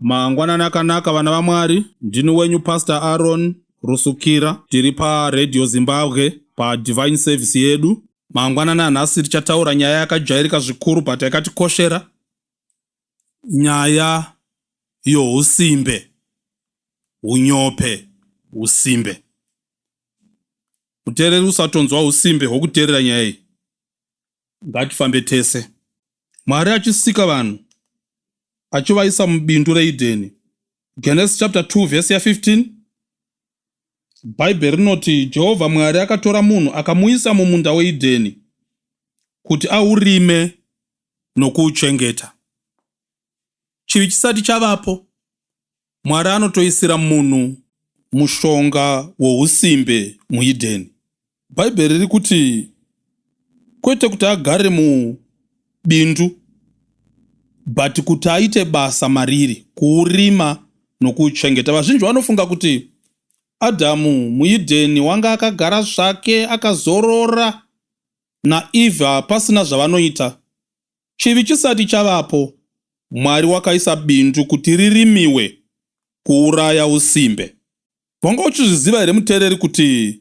Mangwanani akanaka vana vaMwari, ndini wenyu Pastor Aaron Rusukira. Tiri paRadio Zimbabwe paDivine Service yedu. Mangwanani anhasi tichataura nyaya yakajairika zvikuru but yakatikoshera. Nyaya yousimbe, unyope, usimbe. Muteereri usatonzwa usimbe hwokuteerera nyaya iyi. Ngatifambe tese. Mwari achisika vanhu achivaisa mubindu reEdheni. Genesis chapter 2 verse ya 15. Bhaibheri rinoti Jehovha Mwari akatora munhu akamuisa mumunda weEdheni kuti aurime nokuuchengeta. Chivi chisati chavapo, Mwari anotoisira munhu mushonga wousimbe muEdeni. Bhaibheri riri kuti kwete kuti agare mubindu but kuti aite basa mariri, kuurima nokuuchengeta. Vazhinji vanofunga kuti Adhamu muEdeni wanga akagara zvake akazorora naEvha pasina zvavanoita. Chivi chisati chavapo, Mwari wakaisa bindu kuti ririmiwe kuuraya usimbe. Wanga uchizviziva here muteereri kuti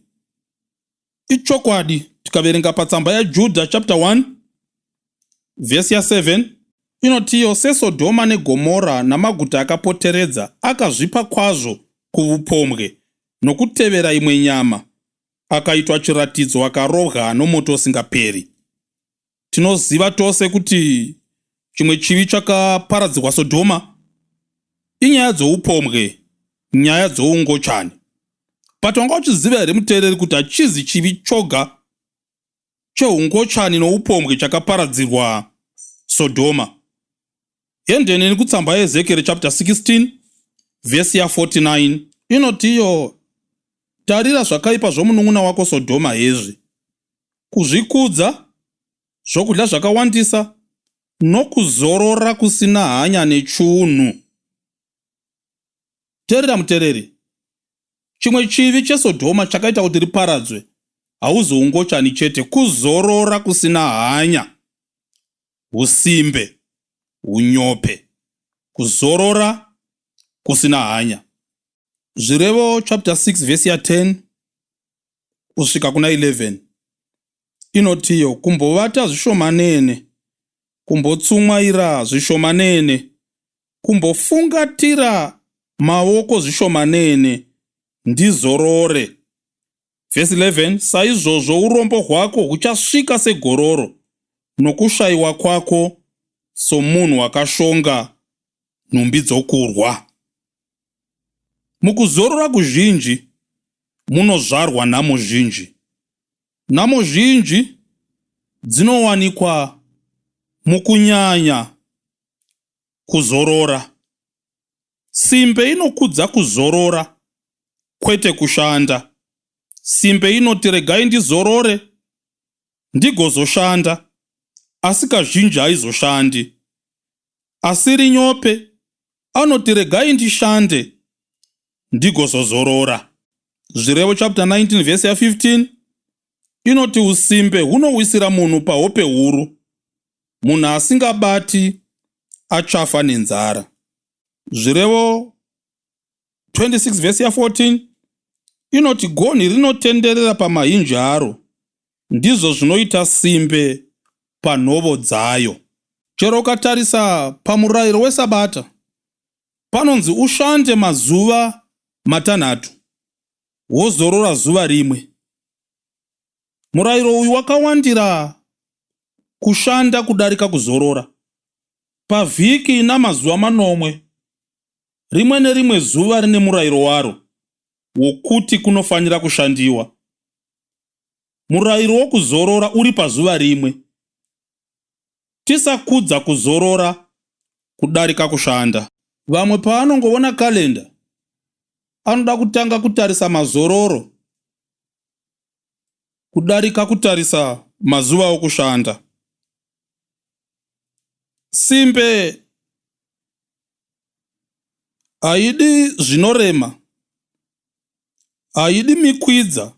ichokwadi? Tikaverenga patsamba yaJudha chapter 1 vhesi ya 7 inotiyo seSodhoma neGomora namaguta akapoteredza akazvipa kwazvo kuvupombwe nokutevera imwe nyama akaitwa chiratidzo akarobwa nomoto usingaperi. Tinoziva tose kuti chimwe chivi chakaparadzirwa Sodhoma inyaya dzoupombwe, nyaya dzoungochani. But wanga uchiziva here muteereri kuti hachizi chivi choga cheungochani noupombwe chakaparadzirwa Sodhoma? Ende neni kutsamba yeEzekieri chapter 16 vhesi ya 49 inotiyo, Tarira zvakaipa zvomunun'una wako Sodhoma hezvi, kuzvikudza, zvokudya zvakawandisa, nokuzorora kusina hanya nechunhu. Terera mutereri, chimwe chivi cheSodhoma chakaita kuti riparadzwe hauzi ungochani chete, kuzorora kusina hanya. husimbe, hunyope, kuzorora, kusina hanya. Zvirevo chapter 6 vhesi ya 10 kusvika kuna 11 inotiyo kumbovata zvishomanene, kumbotsumwaira zvishomanene, kumbofungatira maoko zvishomanene, ndizorore. Vhesi 11 Saizvozvo urombo hwako huchasvika segororo, nokushayiwa kwako somunhu wakashonga nhumbi dzokurwa. Mukuzorora kuzhinji munozvarwa nhamo zhinji. Nhamo zhinji dzinowanikwa mukunyanya kuzorora. Simbe inokudza kuzorora kwete kushanda. Simbe inoti regai ndizorore ndigozoshanda asi kazhinji haizoshandi. Asiri nyope anoti regai ndishande ndigozozorora. Zvirevo chapter 19 vhesi ya 15 inoti usimbe hunowisira munhu pahope huru munhu asingabati achafa nenzara zvirevo 26 vhesi ya 14 inoti gonhi rinotenderera pamahinji aro ndizvo zvinoita simbe panhovo dzayo chero ukatarisa pamurayiro wesabata panonzi ushande mazuva matanhatu wozorora zuva rimwe Murayiro uyu wakawandira kushanda kudarika kuzorora. Pavhiki ina mazuva manomwe, rimwe nerimwe zuva rine murayiro waro wokuti kunofanira kushandiwa. Murayiro wokuzorora uri pazuva rimwe. Tisakudza kuzorora kudarika kushanda. Vamwe paanongovona karenda anoda kutanga kutarisa mazororo kudarika kutarisa mazuva okushanda. Simbe haidi zvinorema, haidi mikwidza,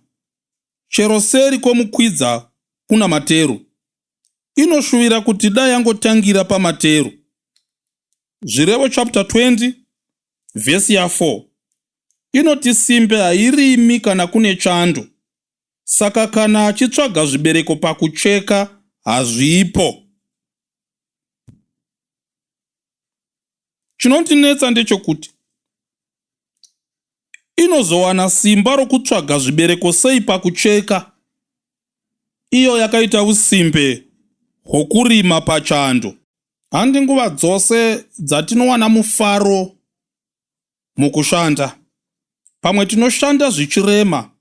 chero seri kwomukwidza kuna materu. Inoshuvira kuti dai yangotangira pamateru. Zvirevo chapter 20 vhesi ya 4 inoti simbe hairimi kana kune chando saka kana achitsvaga zvibereko pakucheka hazvipo chinondinetsa ndechokuti inozowana simba rokutsvaga zvibereko sei pakucheka iyo yakaita usimbe hwokurima pachando handi nguva dzose dzatinowana mufaro mukushanda. Pamwe tinoshanda zvichirema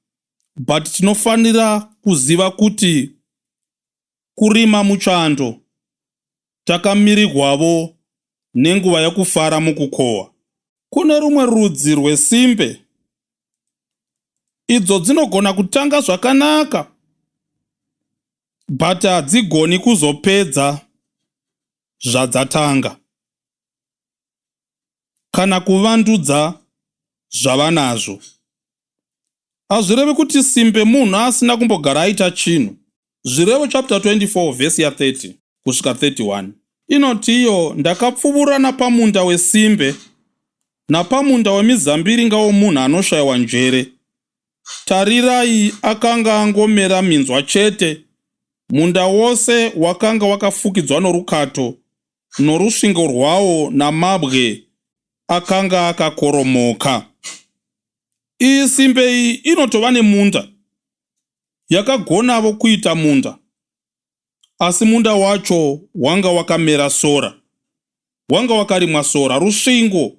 but tinofanira kuziva kuti kurima muchando takamirigwavo nenguva yekufara mukukohwa. Kune rumwe rudzi rwesimbe idzo dzinogona kutanga zvakanaka but hadzigoni kuzopedza zvadzatanga. kana kuvandudza zvavanazvo. Hazvirevi kuti simbe munhu asina kumbogara aita chinhu. Zvirevo chapter 24 vhesi ya 30 kusvika 31 inoti iyo ndakapfuvura napamunda wesimbe napamunda wemizambiringa womunhu anoshayiwa njere tarirai akanga angomera minzwa chete munda wose wakanga wakafukidzwa norukato norusvingo rwawo namabwe akanga akakoromoka. Iyi simbe iyi inotova nemunda. Yakagonavo kuita munda. Asi munda wacho wanga wakamera sora. Wanga wakarimwa sora. Rusvingo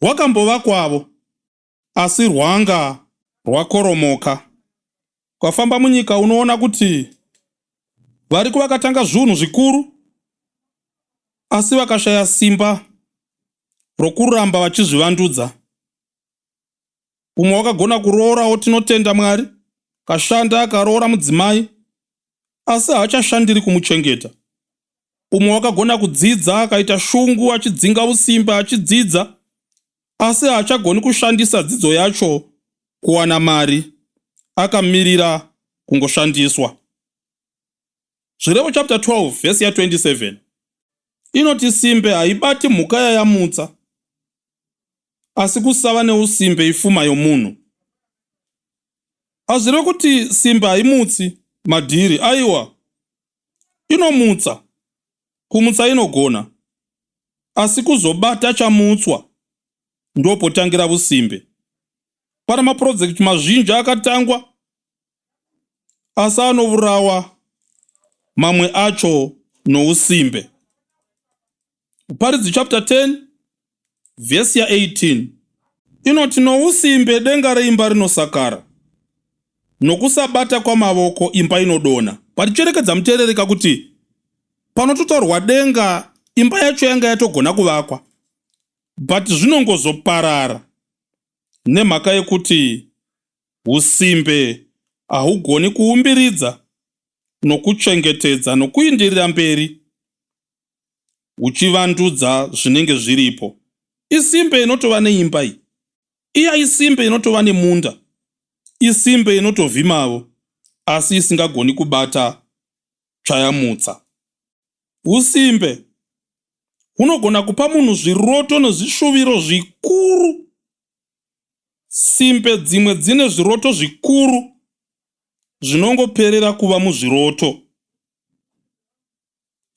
rwakambovakwavo. asi rwanga rwakoromoka. Ukafamba munyika unoona kuti variko vakatanga zvunhu zvikuru asi vakashaya simba rokuramba vachizvivandudza. Umwe wakagona kuroorawo tinotenda Mwari, kashanda akaroora mudzimai asi haachashandiri kumuchengeta. Umwe wakagona kudzidza akaita shungu achidzinga usimba achidzidza asi haachagoni kushandisa dzidzo yacho kuwana mari akamirira kungoshandiswa zvirevo chapter 12 vhesi ya 27 inoti simbe haibati mhuka yayamutsa asi kusava neusimbe ifuma yomunhu hazvireve kuti simbe haimutsi madhiri aiwa Inomutsa, kumutsa inogona, asi kuzobata chamutswa ndopotangira vusimbe. Pana mapurojekiti mazhinji akatangwa asi anovurawa mamwe acho nousimbe. Muparidzi chapter 10 vhesi ya 18 inoti nousimbe denga reimba rinosakara nokusabata kwamavoko imba inodona paricherekedza muteerereka kuti panototaurwa denga imba yacho yanga yatogona kuvakwa but zvinongozoparara nemhaka yekuti usimbe hahugoni kuumbiridza nokuchengetedza nokuindirira mberi uchivandudza zvinenge zviripo isimbe inotova neimba iyi iya isimbe inotova nemunda isimbe inotovhimavo asi isingagoni kubata tsvayamutsa usimbe hunogona kupa munhu zviroto nezvishuviro zvikuru simbe dzimwe dzine zviroto zvikuru zvinongoperera kuva muzviroto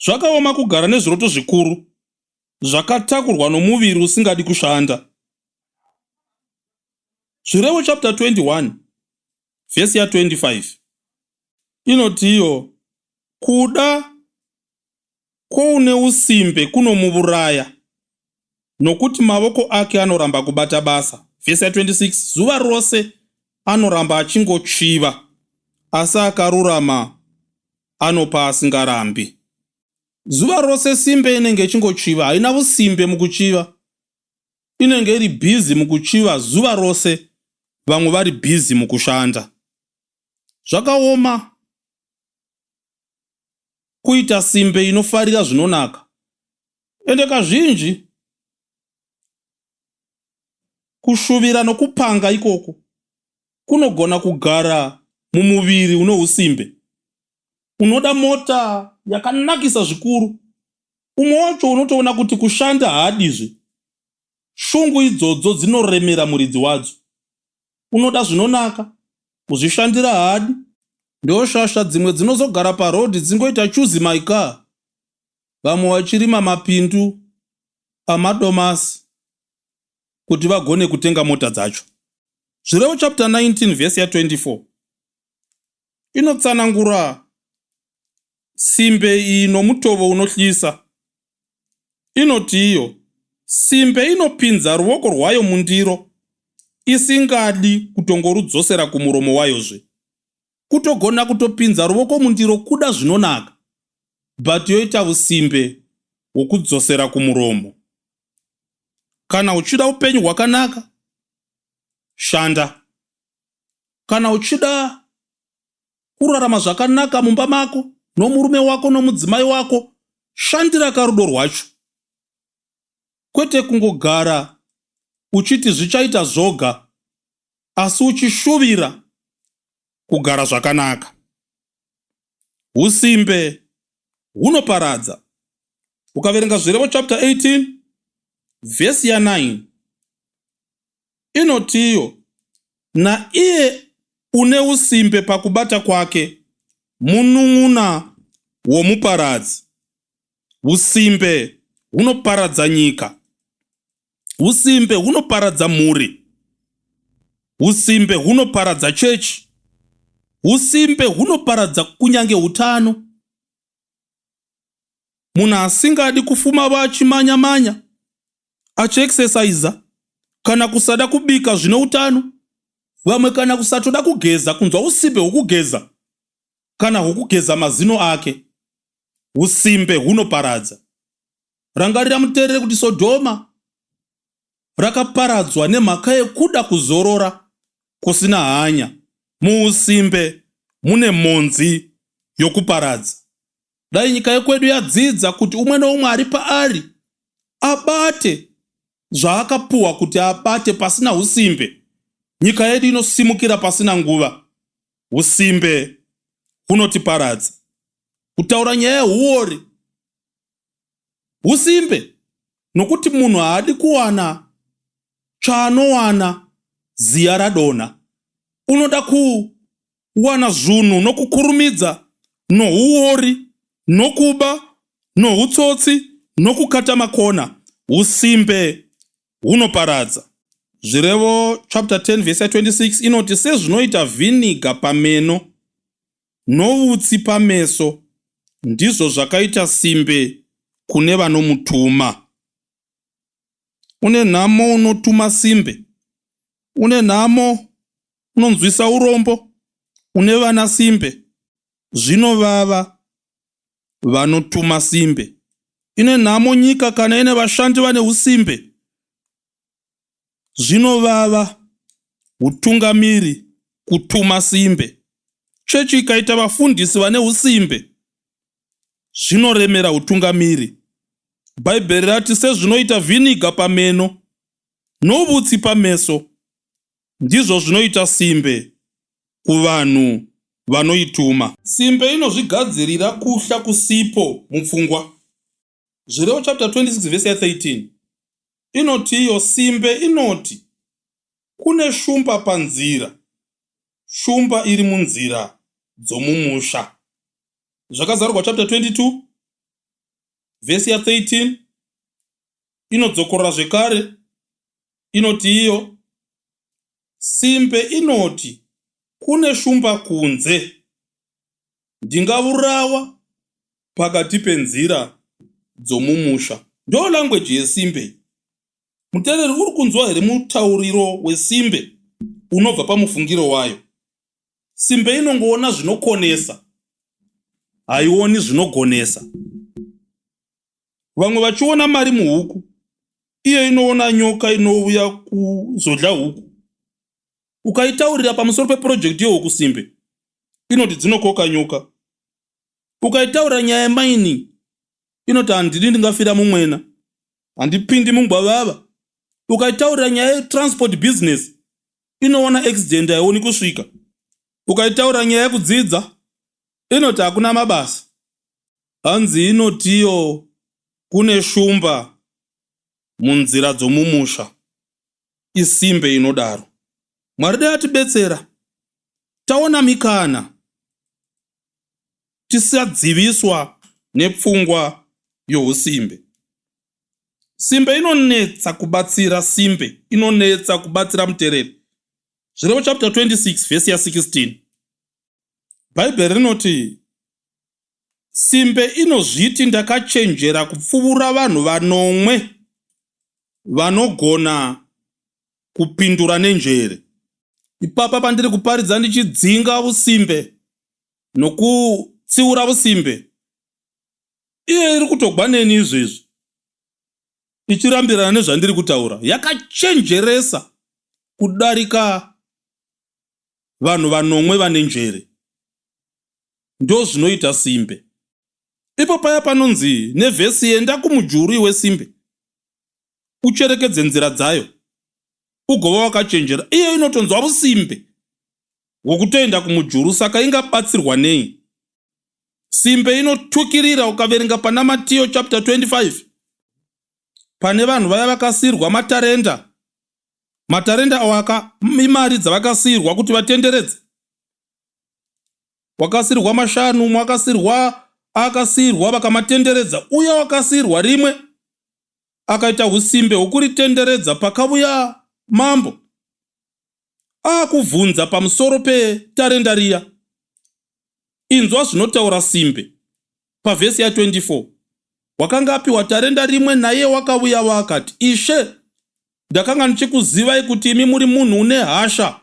Zvakaoma kugara nezviroto zvikuru zvakatakurwa nomuviri usingadi kushanda. Zvirevo chapter 21 vhesi ya 25 inotiyo kuda kwoune usimbe kunomuuraya, Nokuti mavoko ake anoramba kubata basa. Vhesi 26 zuva rose anoramba achingotsviva, asi akarurama anopa asingarambi. Zuva rose simbe inenge ichingotsviva, haina vusimbe mukutsviva. Inenge iri bhizi mukutsviva zuva rose, vamwe vari bhizi mukushanda. Zvakaoma kuita simbe inofarira zvinonaka, ende kazhinji kushuvira nokupanga ikoko kunogona kugara mumuviri une usimbe unoda mota yakanakisa zvikuru umwe wacho unotoona kuti kushanda haadizve shungu idzodzo dzinoremera muridzi wadzo unoda zvinonaka kuzvishandira haadi ndoshasha dzimwe dzinozogara paroad dzingoita chuzi my car vamwe vachirima mapindu pamadomasi kuti vagone kutenga mota dzacho zvirevo chapter 19 vhesi ya 24 inotsanangura simbe iyi nomutovo unohlisa inoti iyo simbe inopinza ruoko rwayo mundiro isingadi kutongorudzosera kumuromo wayozve kutogona kutopinza ruvoko mundiro kuda zvinonaka but yoita usimbe hwokudzosera kumuromo kana uchida upenyu hwakanaka shanda kana uchida kurarama zvakanaka mumba mako nomurume wako nomudzimai wako shandira karudo rwacho kwete kungogara uchiti zvichaita zvoga asi uchishuvira kugara zvakanaka. Usimbe hunoparadza. Ukaverenga Zvirevo chapter 18 vhesi ya 9 inotiyo, naiye une usimbe pakubata kwake munun'una womuparadzi. Usimbe hunoparadza nyika. Usimbe hunoparadza mhuri. Usimbe hunoparadza chechi. Usimbe hunoparadza kunyange utano. Munhu asingadi kufuma vachimanya manya, achiexercisa kana kusada kubika zvine utano, vamwe kana kusatoda kugeza kunzwa usimbe hwokugeza kana hwokugeza mazino ake. Usimbe hunoparadza. Rangarira muterere kuti Sodhoma rakaparadzwa nemhaka yekuda kuzorora kusina hanya. Muusimbe mune mhonzi yokuparadza. Dai nyika yekwedu yadzidza kuti umwe noumwe ari paari abate zvaakapuwa kuti abate pasina usimbe, nyika yedu inosimukira pasina nguva. Usimbe hunotiparadza. Kutaura nyaya yehuori husimbe nokuti munhu haadi kuwana tsvaanowana ziya radonha unoda kuwana zvunhu nokukurumidza nouori nokuba noutsotsi nokukata makona usimbe hunoparadza zvirevo chapter 10 vese 26 inoti sezvinoita vhiniga pameno noutsi pameso, ndizvo zvakaita simbe kune vanomutuma. Une nhamo unotuma simbe, une nhamo unonzwisa urombo, une vana simbe, zvinovava vanotuma simbe. Ine nhamo nyika kana ine vashandi vane usimbe, zvinovava hutungamiri kutuma simbe chechi ikaita vafundisi vane usimbe zvinoremera hutungamiri bhaibheri rati sezvinoita vhiniga pameno novutsi pameso ndizvo zvinoita simbe kuvanhu vanoituma simbe inozvigadzirira kuhla kusipo mupfungwa Zvirevo chapter 26 vhesi ya 13 inoti iyo simbe inoti kune shumba panzira shumba iri munzira dzomumusha zvakazarurwa chapter 22 vhesi ya 13 inodzokorora zvekare inoti iyo simbe inoti kune shumba kunze ndingavurawa pakati penzira dzomumusha. Ndoo language yesimbe iyi. Mutereri uri kunzwa here mutauriro wesimbe unobva pamufungiro wayo? Simbe inongoona zvinokonesa, haioni zvinogonesa. Vamwe vachiona mari muhuku, iyo inoona nyoka inouya kuzodya huku. Ukaitaurira pamusoro pepurojekiti yehuku simbe inoti dzinokoka nyoka ukaitaura nyaya yemining inoti handidi ndingafira mumwena handipindi mungwavava ukaitaurira nyaya yetransport business inoona accident haioni kusvika ukaitaurira nyaya yekudzidza inoti hakuna mabasa hanzi inotiyo kune shumba munzira dzomumusha isimbe inodaro mwari dai atibetsera taona mikana tisadziviswa nepfungwa yousimbe. Simbe inonetsa kubatsira simbe inonetsa kubatsira mutereri. Zvirevo chapter 26 vhesi ya 16 bhaibheri rinoti simbe inozviti ndakachenjera kupfuvura vanhu vanomwe vanogona kupindura nenjere. Ipapa pandiri kuparidza ndichidzinga usimbe nokutsiura usimbe, iye iri kutogwa neni izvezvi ichirambirana nezvandiri kutaura. Yakachenjeresa kudarika vanhu vanomwe vane njere. Ndozvinoita simbe. Ipo paya panonzi nevhesi yenda kumujurwi wesimbe, ucherekedze nzira dzayo ugova wakachenjera iye inotonzwa rusimbe hwokutoenda kumujuru saka ingabatsirwa nei simbe inotukirira ukaverenga pana matiyo chapter 25 pane vanhu vaya vakasiyirwa matarenda matarenda awaka imari dzavakasiyirwa kuti vatenderedze wakasiyirwa mashanu umwe akasiyirwa akasiyirwa vakamatenderedza uye wakasiyirwa rimwe akaita usimbe hwokuritenderedza pakavuya mambo aakuvhunza pamusoro petarenda riya inzwa zvinotaura simbe pavhesi ya 24 wakanga apiwa tarenda rimwe naye wakavuya waakati ishe ndakanga ndichikuzivai kuti imi muri munhu une hasha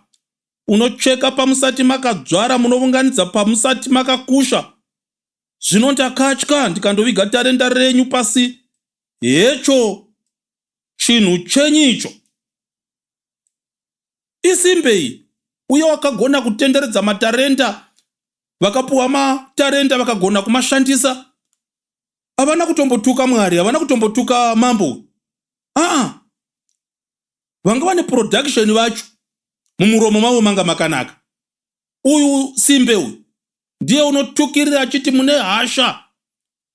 unocheka pamusati makadzvara munovunganidza pamusati makakusha Zvino ndakatya ndikandoviga tarenda renyu pasi. Hecho chinhu chenyu icho. Isimbei uye wakagona kutenderedza matarenda vakapuwa matarenda vakagona kumashandisa havana kutombotuka mwari havana kutombotuka mambo aa vanga vane production vacho mumuromo mavo manga makanaka uyu simbe uyu ndiye unotukirira achiti mune hasha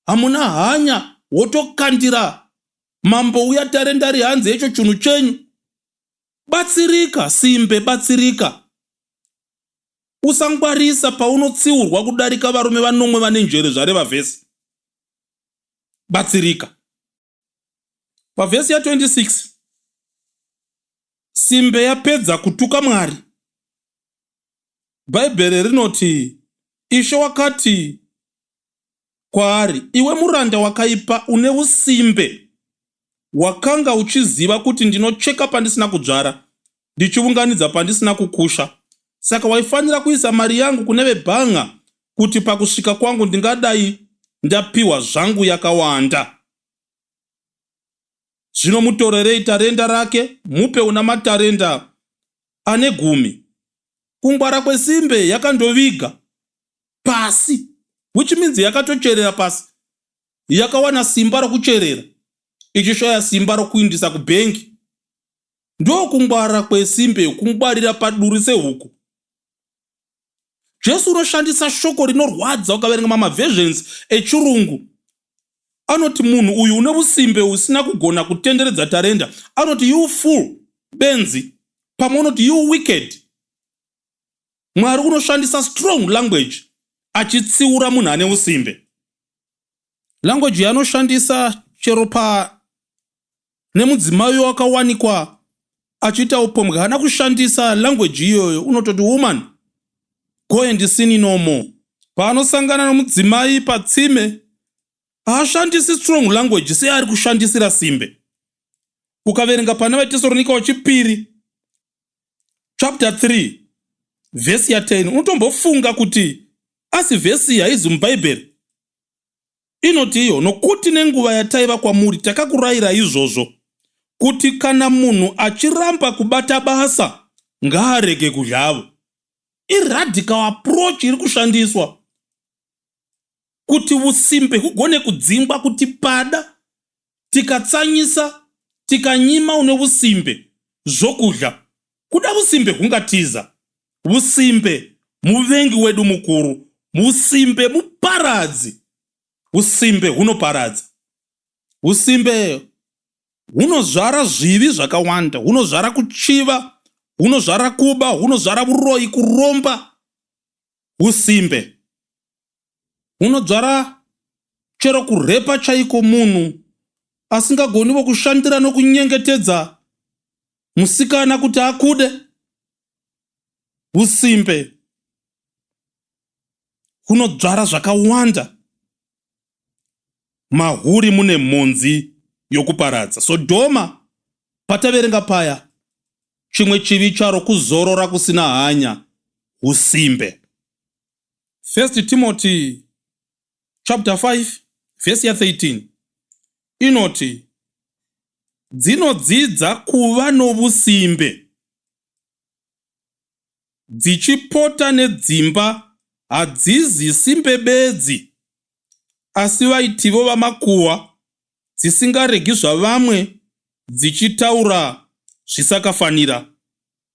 hamuna hanya wotokandira mambo uya tarendari hanzi hecho chunhu chenyu batsirika simbe batsirika usangwarisa paunotsiurwa kudarika varume vanomwe vane njere zvareva vhesi batsirika pavhesi ya26 simbe yapedza kutuka mwari bhaibheri rinoti ishe wakati kwaari iwe muranda wakaipa une usimbe wakanga uchiziva kuti ndinocheka pandisina kudzvara ndichiunganidza pandisina kukusha saka waifanira kuisa mari yangu kune vebhanga kuti pakusvika kwangu ndingadai ndapiwa zvangu yakawanda zvino mutorerei tarenda rake mupe una matarenda ane gumi kungwara kwesimbe yakandoviga pasi which means yakatocherera pasi yakawana simba rokucherera ichishaya simba rokuindisa kubhengi ndokungwara kwesimbe kungwarira paduri sehuku jesu unoshandisa shoko rinorwadza ukaverenga mamaversions echirungu anoti munhu uyu une usimbe usina kugona kutenderedza tarenda anoti you full benzi pamwe unoti you wicked mwari unoshandisa strong language achitsiura munhu ane usimbe language yaanoshandisa chero pa nemudzimai uyo wakawanikwa achiita upombwe haana kushandisa language iyoyo unototi woman go and sini no more paanosangana nomudzimai patsime haashandisi strong language seari kushandisira simbe ukaverenga pana vatesoronika wechipiri chapter 3 vhesi ya 10 unotombofunga kuti asi vhesi haizi mubhaibheri Inoti iyo, Nokuti nenguva yataiva kwamuri takakurayira izvozvo, kuti kana munhu achiramba kubata basa, ngaarege kuzhavo. Iradical approach iri kushandiswa kuti usimbe hugone kudzingwa kuti pada tikatsanyisa tikanyima une vusimbe zvokudya kuda vusimbe hungatiza vusimbe muvengi wedu mukuru vusimbe muparadzi vusimbe hunoparadza vusimbe hunozvara zvivi zvakawanda hunozvara kuchiva hunozvara kuba hunozvara vuroyi kuromba usimbe hunodzvara chero kurhepa chaiko munhu asingagoni vokushandira nokunyengetedza musikana kuti akude usimbe hunodzvara zvakawanda mahuri mune mhunzi yokuparadza sodhoma pataverenga paya chimwe chivi charo kuzorora kusina hanya usimbe 1 Timothy chapter 5 verse ya 13 inoti dzinodzidza kuva novusimbe dzichipota nedzimba hadzizi simbe bedzi asi vaitivo vamakuwa dzisingaregi zvavamwe dzichitaura zvisakafanira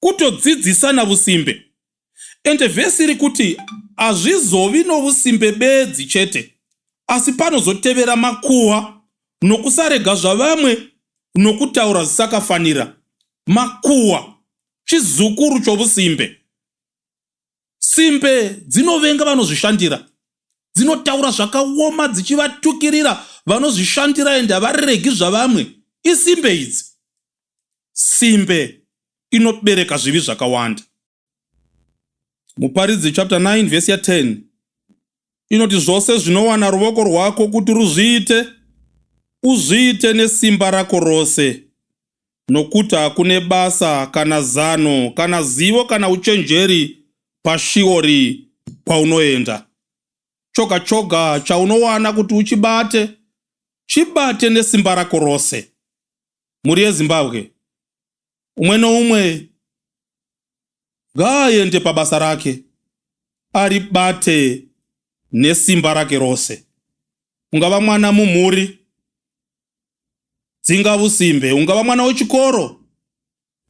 kutodzidzisana vusimbe ende vhesi iri kuti hazvizovi novusimbe bedzi chete asi panozotevera makuhwa nokusarega zvavamwe nokutaura zvisakafanira makuhwa chizukuru chovusimbe Simbe dzinovenga vanozvishandira. Dzinotaura zvakaoma dzichivatukirira vanozvishandira ende havaregi zvavamwe. Isimbe idzi. Simbe inobereka zvivi zvakawanda. Muparidzi chapter 9 vhesi ya 10 inoti zvose zvinowana ruvoko rwako kuti ruzviite uzviite nesimba rako rose nokuti hakune basa kana zano kana zivo kana uchenjeri pashiori kwaunoenda choga choga chaunowana kuti uchibate chibate nesimba rako rose mhuri yezimbabwe Umwe noumwe ngaaende pabasa rake aribate nesimba rake rose. Ungava mwana mumhuri, dzinga usimbe. Ungava mwana wechikoro,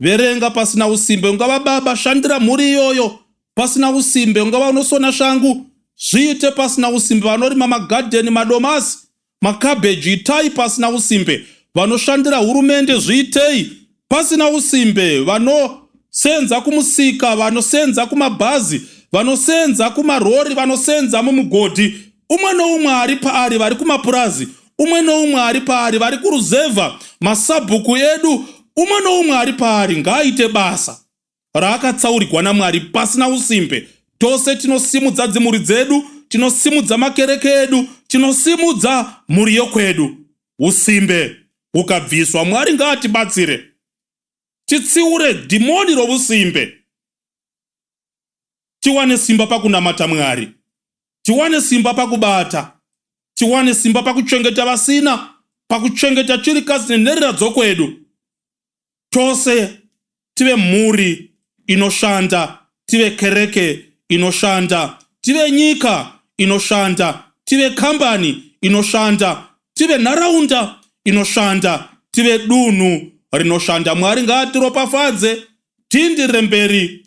verenga pasina usimbe. Ungava baba, shandira mhuri iyoyo pasina usimbe. Ungava unosona shangu, zviite pasina usimbe. Vanorima magadheni, madomasi, makabheji itai pasina usimbe vanoshandira hurumende zviitei pasina usimbe vanosenza kumusika vanosenza kumabhazi vanosenza kumarori vanosenza mumugodhi umwe noumwe ari paari vari kumapurazi umwe noumwe ari paari vari kuruzevha masabhuku edu umwe noumwe ari paari ngaaite basa raakatsaurigwa naMwari pasina usimbe. Tose tinosimudza dzimhuri dzedu, tinosimudza makereke edu, tinosimudza mhuri yokwedu. Usimbe ukabviswa, Mwari ngaatibatsire titsiure dhimoni rovusimbe, tiwane simba pakunamata Mwari, tiwane simba pakubata, tiwane simba pakuchengeta vasina, pakuchengeta chirikadzi nenherera dzokwedu. tose tive mhuri inoshanda tive kereke inoshanda tive nyika inoshanda tive kambani inoshanda tive nharaunda inoshanda tive dunhu rinoshanda mwari ngaatiropafadze tindi remberi